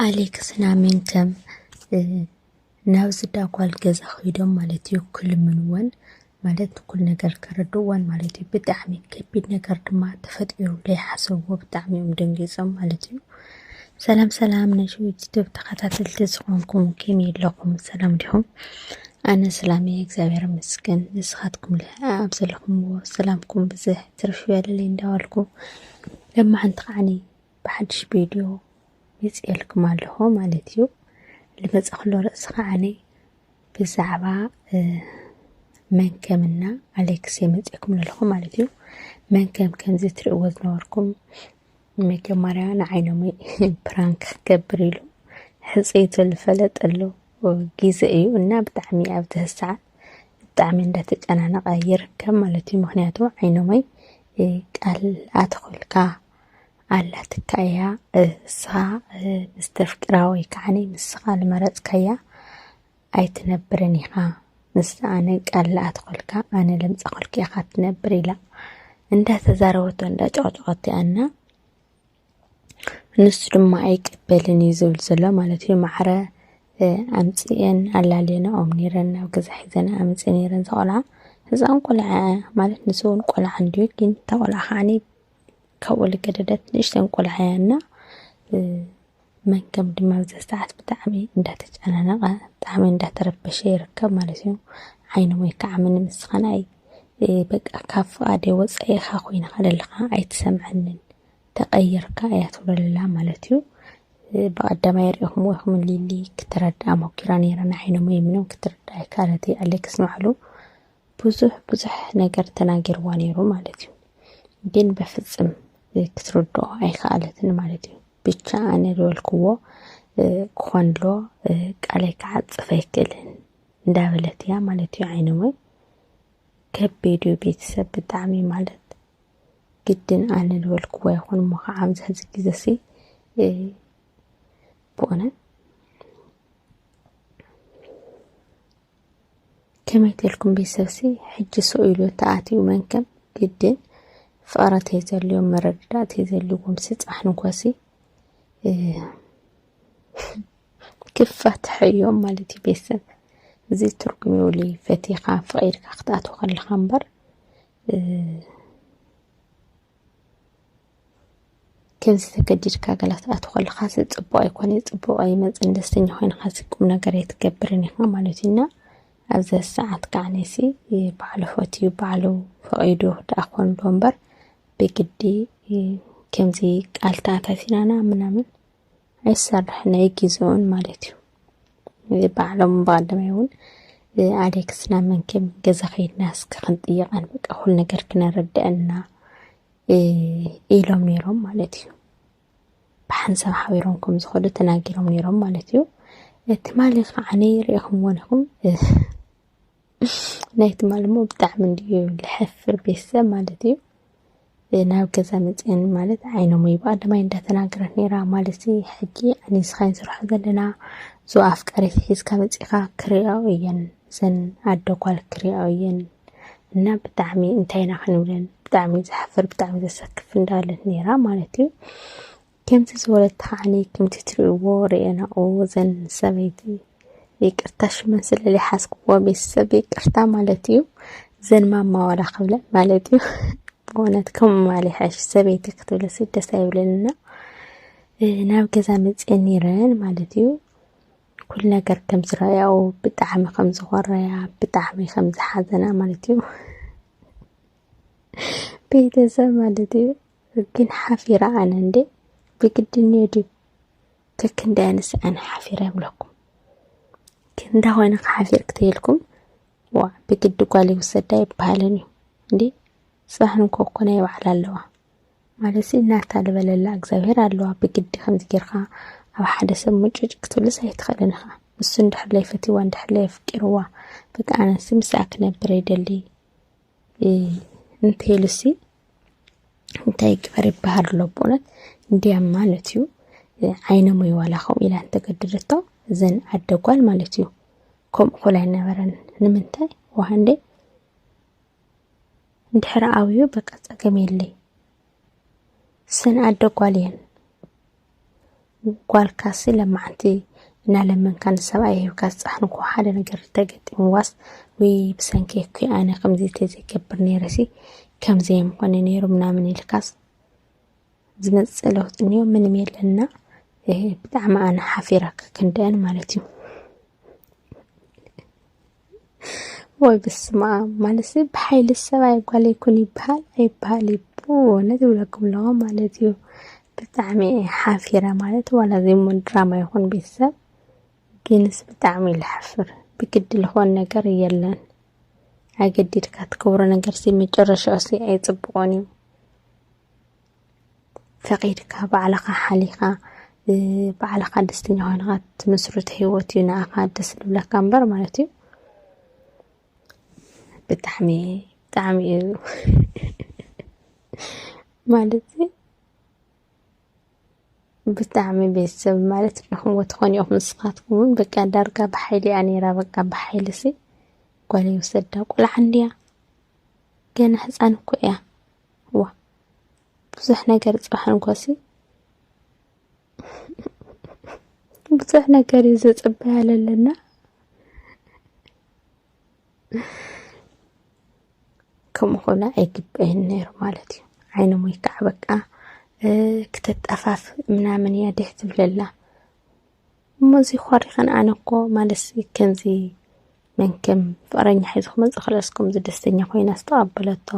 ኣሌክስን ኣሜንከም ናብ ዝዳጓል ገዛ ከይዶም ማለት እዩ ክልምንወን ማለት ኩል ነገር ከረድዋን ማለት እዩ ብጣዕሚ ከቢድ ነገር ድማ ተፈጢሩ ዘይሓሰብዎ ብጣዕሚ እዮም ደንጊፆም ማለት እዩ ሰላም ሰላም ናይ ሽዊት ዩቱብ ተኸታተልቲ ዝኾንኩም ከም የለኹም ሰላም ዲኹም ኣነ ሰላም እየ እግዚኣብሔር ይመስገን ንስኻትኩም ኣብ ዘለኹምዎ ሰላምኩም ብዝሕ ትርፍ ይበለለይ እንዳበልኩ ለማሕንቲ ከዓኒ ብሓድሽ ቪድዮ መፅኤልኩም ኣለኹ ማለት እዩ ልመፀ ክሎ ርእሲ ከዓኒ ብዛዕባ መን ከምና ኣሌክስ የመፅኤኩም ኣለኹ ማለት እዩ መን ከም ከምዚ ትርእዎ ዝነበርኩም መጀመርያ ንዓይኖም ፕራንክ ክገብር ኢሉ ሕፀይቶ ዝፈለጥ ኣሎ ግዘ እዩ እና ብጣዕሚ ኣብ ትህሰዓት ብጣዕሚ እንዳተጨናነቐ ይርከብ ማለት እዩ ምክንያቱ ዓይኖመይ ቃል ኣትኹልካ ኣላትካ እያ እሳ ምስ ተፍቅራ ወይ ከዓ ንስኻ ዝመረፅካያ ኣይትነብርን ኢኻ ንሳ ኣነ ቃል ልኣትኾልካ ኣነ ለምፃኾልካ ኢኻ ትነብር ኢላ እንዳተዛረበቶ እንዳጨቕጨቐቶ እያ እና ንሱ ድማ ኣይቅበልን እዩ ዝብል ዘሎ ማለት እዩ ማዕረ ኣምፅኤን ኣላልየናኦም ነይረን ናብ ገዛ ሒዘን ኣምፅእ ነይረን ዘቆልዓ ህፃን ቆልዓ ማለት ንሱ እውን ቆልዓ እንድዩ ግን እታ ቆልዓ ከዓኒ ካብ ወለገደደት ንእሽተን ቆልዓ እያ እና መንከም ድማ ኣብዚ ሰዓት ብጣዕሚ እንዳተጨናነቐ ብጣዕሚ እንዳተረበሸ ይርከብ ማለት እዩ ዓይኑ ወይ ከዓ ምንም እስኻን ኣይ በቃ ካብ ፍቓደ ወፃኢ ኢኻ ኮይንኻ ዘለኻ ኣይትሰምዐንን ተቐይርካ እያ ትብለላ ማለት እዩ ብቐዳማይ ሪኢኹም ወይኹም ሊሊ ክትረድኣ ሞኪራ ነይራ ንዓይኖም ወይ ምንም ክትርዳ ኣይካለትይ ኣሌክስ ንባዕሉ ብዙሕ ብዙሕ ነገር ተናጊርዋ ነይሩ ማለት እዩ ግን በፍጽም ክትርድኦ ኣይከኣለትን ማለት እዩ ብቻ ኣነ ዝበልክዎ ክኾን ኣሎ ቃለይ ክዓፅፍ ኣይክእልን እንዳበለት እያ ማለት እዩ ዓይነ ወይ ከቢድ እዩ ቤተሰብ ብጣዕሚ ማለት ግድን ኣነ ዝበልክዎ ይኹን እሞ ከዓ ኣብዚ ሕዚ ግዜ ሲ ብእውነት ከመይ ተልኩም ቤተሰብሲ ሕጂ ሰው ኢሉ ተኣትዩ መንከም ግድን ፍቕረ ተይዘልዮም መረድዳ ተይዘልዎም ስጻሕን እንኮሲ ክፋት ሕዮም ማለት እዩ ቤተሰብ እዚ ትርጉም ይውሉ ፈቲኻ ፍቒድካ ክትኣትው ከለኻ እምበር ከምዚ ተገዲድካ ገላ ትኣቱ ከለኻሲ ፅቡቕ ኣይኮነን፣ ፅቡቕ ኣይመፅእን፣ ደስተኛ ኮይንኻሲ ቁም ነገር ኣይትገብርን ኢኻ ማለት እዩ እና ኣብዚ ሰዓት ከዓ ነሲ ባዕሉ ፈትዩ ባዕሉ ፈቒዱ ደኣ ኮን ዶ እምበር ብግዲ ከምዚ ቃል ተኣታቲናና ምናምን ኣይሰርሕን ኣይግዝኡን ማለት እዩ ባዕሎም ብቐዳማይ እውን ኣሌክስና መንከም ገዛ ከይድና እስከ ክንጥይቐን በቃ ኩሉ ነገር ክነረድአና ኢሎም ነይሮም ማለት እዩ ብሓንሳብ ሓቢሮም ከም ዝኸዱ ተናጊሮም ነይሮም ማለት እዩ ትማሊ ከዓኒ ሪኢኹምዎን ኢኹም ናይ ትማሊ ሞ ብጣዕሚ እንድዩ ልሕፍር ቤተሰብ ማለት እዩ ናብ ገዛ መፅአን ማለት ዓይኖም ይባ ደማይ እንዳተናገረት ነይራ ማለት ሕጂ ኣንስኻይን ስርሖ ዘለና ዞ ኣፍቃሪት ሒዝካ መፂኻ ክሪኦ እየን እዘን ኣደ ጓል ክሪኣኦ እየን እና ብጣዕሚ እንታይ ኢና ክንብለን ብጣዕሚ ዘሕፍር ብጣዕሚ ዘሰክፍ እንዳለት ነይራ ማለት እዩ ከምዚ ዝበለት ተኸዓኒ ከምቲ ትሪእዎ ርኤናኦ ዘን ሰበይቲ ይቅርታ ሽመን ስለ ዝሓዝክዎ ቤተሰብ ይቅርታ ማለት እዩ ዘን ማማ ዋላ ክብለን ማለት እዩ ብእውነት ከም ማሊ ሓሽ ሰበይቲ ክትብለ ስደስ ኣይብለንና ናብ ገዛ መፅኤን ነይረን ማለት እዩ ኩሉ ነገር ከም ዝረኣያኦ ብጣዕሚ ከም ዝኾረያ ብጣዕሚ ከም ዝሓዘና ማለት እዩ ቤተሰብ ማለት እዩ ግን ሓፊራ ኣነ እንዴ ብግድን እዩ ድዩ ከክንዲ ኣነስ ኣነ ሓፊረ ይብለኩም ክንዳ ኮይነ ክሓፊር ክትይልኩም ዋ ብግዲ ጓል ይውሰዳ ይበሃለን እዩ እንዴ ፅባሕ ንኮኮነ ይበዓል ኣለዋ ማለትሲ ናታ ልበለላ እግዚኣብሄር ኣለዋ ብግዲ ከምዚ ጌርካ ኣብ ሓደ ሰብ ሙጭጭ ክትብልስ ኣይትኽእልን ኢኻ ንሱ እንድሕር ለይፈትይዋ እንድሕር ለየፍቂርዋ በቃ ኣነሲ ምስኣ ክነብር ይደሊ እንተይሉሲ እንታይ ግበር ይበሃል ኣሎ ብእውነት እንዲያም ማለት እዩ ዓይኖም ወይ ዋላ ከምኡ ኢላ እንተገደደቶ እዘን ኣደጓል ማለት እዩ ከምኡ ኮል ኣይነበረን ንምንታይ ዋሃንዴ ድሕሪ ኣብዩ በቃ ጸገም የለይ ሰን ኣደ ጓል እየን ጓልካሲ ለማዓንቲ እናለመንካ ንሰብኣይ ሂብካ ዝጻሕንኩ ሓደ ነገር ተገጢምዋስ ወይ ብሰንኪ እኮ ኣነ ከምዚ ተዘይገብር ነይረሲ ከምዚ የምኾነ ነይሩ ምናምን ኢልካስ ዝመጽእ ለውጢ እንዮ ምንም የለና ብጣዕሚ ኣነ ሓፊራካ ክንደአን ማለት እዩ ወይ ብስማኣም ማለሲ ብሓይሊ ሰብኣይ ጓል ይኩን ይበሃል ኣይበሃል ይብነት ይብለኩም ኣለዎ ማለት እዩ ብጣዕሚ ሓፊረ ማለት ዋላ ዘይሙን ድራማ ይኹን ቤተሰብ ግንስ ብጣዕሚ ልሓፍር ብግዲ ልኾን ነገር የለን ኣገዲድካ ትክብሮ ነገር ሲ መጨረሻ ሲ ኣይፅብቆን እዩ ፈቂድካ ባዕልኻ ሓሊኻ ባዕልኻ ደስተኛ ኮይንኻ ትምስርት ሂወት እዩ ንኣኻ ደስ ዝብለካ እምበር ማለት እዩ ብጣዕሚ ብጣዕሚ እዩ ማለት ብጣዕሚ ቤተሰብ ማለት ንኹምዎ ትኾን ኢኹም ንስኻትኩም እውን በቃ ዳርጋ ብሓይሊ እያ ነይራ በቃ ብሓይሊ ሲ ጓል ይውሰዳ ቆልዓ እንድያ ገና ህፃን እኮ እያ ዋ ብዙሕ ነገር ጽባሕ እንኳሲ ብዙሕ ነገር እዩ ዘጽበያ ኣለና ከምኡ ኮነ ኣይግበይን ነይሩ ማለት እዩ ዓይነ ሞይካዕ በቃ ክተጠፋፍ ምናምን እያ ድሕ ትብለላ እሞ እዚ ኾሪኸን ኣነ እኮ ማለትሲ ከምዚ መንከም ፍቕረኛ ሒዙ ክመፅእ ክለስ ከምዚ ደስተኛ ኮይና ዝተቐበለቶ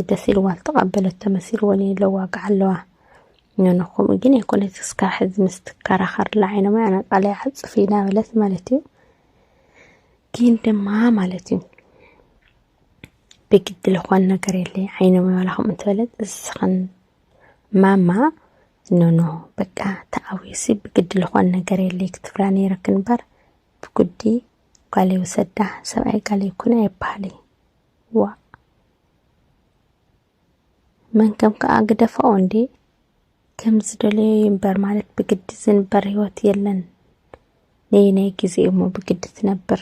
ደስ ኢልዋ ዝተቐበለቶ መሲልዎ ለዋግዓ ኣለዋ ኖኖ ከምኡ ግን ኣይኮነት ክስካብ ሕዚ ምስ ትከራኸርላ ዓይኖም ኣዕነቃለ ይዓፅፍ ኢና በለት ማለት እዩ ግን ድማ ማለት እዩ ብግዲ ዝኾን ነገር የለ ዓይኖም ይበላኹም እንትበለት እስኽን ማማ ኖኖ በቃ ተኣዊሲ ብግዲ ልኾን ነገር የለይ ክትብላ ነይረክ እምበር ብጉዲ ጓለይ ውሰዳ ሰብኣይ ጋለይ ኩነ ኣይበሃሊ ዋ መን ከም ከዓ ግደፋኦ እንዴ ከም ዝደለዮ ይንበር ማለት ብግዲ ዝንበር ህይወት የለን ነይ ናይ ጊዜ እሞ ብግዲ ትነብር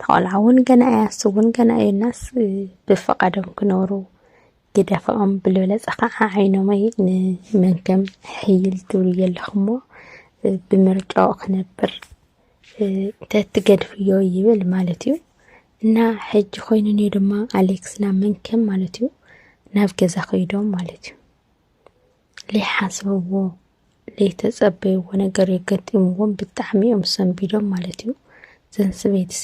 ተቆልዓ እውን ገና እያ እሱ እውን ገና እዩ እናስ ብፈቃዶም ክነብሩ ግደፈኦም ብልበለፀ ከዓ ዓይኖመይ ንመንከም ሕይል ትብሉ ዘለኹሞ ብምርጫኡ ክነብር ተትገድፍዮ ይብል ማለት እዩ እና ሕጂ ኮይኑ እኒ ድማ ኣሌክስ ናብ መንከም ማለት እዩ ናብ ገዛ ከይዶም ማለት እዩ ለይሓሰብዎ ለይተፀበይዎ ነገር እዩ ገጢምዎም ብጣዕሚ እዮም ሰንቢዶም ማለት እዩ ዘን ስበይትሲ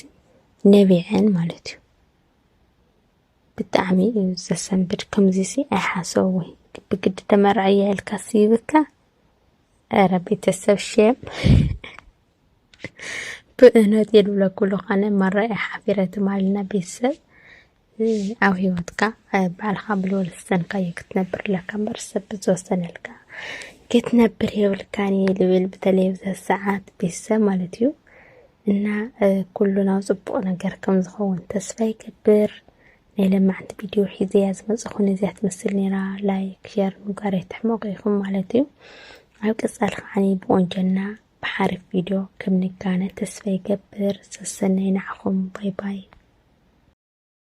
ነቢዐን ማለት እዩ ብጣዕሚ እዩ ዘሰንብድ ከምዚ ሲ ኣይሓሰብዎ ብግዲ ተመርዐያ ኢልካ ስይብካ ኧረ ቤተሰብ ሸም ብእነት የድብለኩሉ ኸነ መራ ሓፊረትም ኣለና ቤተሰብ ኣብ ሂወትካ ባዕልኻ ብልወልስተንካዮ ክትነብር ኣለካ እምበር ሰብ ብዝወሰነልካ ክትነብር የብልካን እየ ልብል በተለይ ኣብዛ ሰዓት ቤተሰብ ማለት እዩ እና ኩሉ ናብ ፅቡቕ ነገር ከም ዝኸውን ተስፋ ይገብር ናይ ለማዕንቲ ቪድዮ ሒዘ እያ ዝመፅኹ ነዚያ ትመስል ነይራ ላይክ ሸር ምግባር ኣይትሕመቑ ኢኹም ማለት እዩ ኣብ ቀፃሊ ከዓኒ ብቆንጀና ብሓሪፍ ቪድዮ ከም ንጋነ ተስፋ ይገብር ሰሰናይ ንዓኹም ባይ ባይ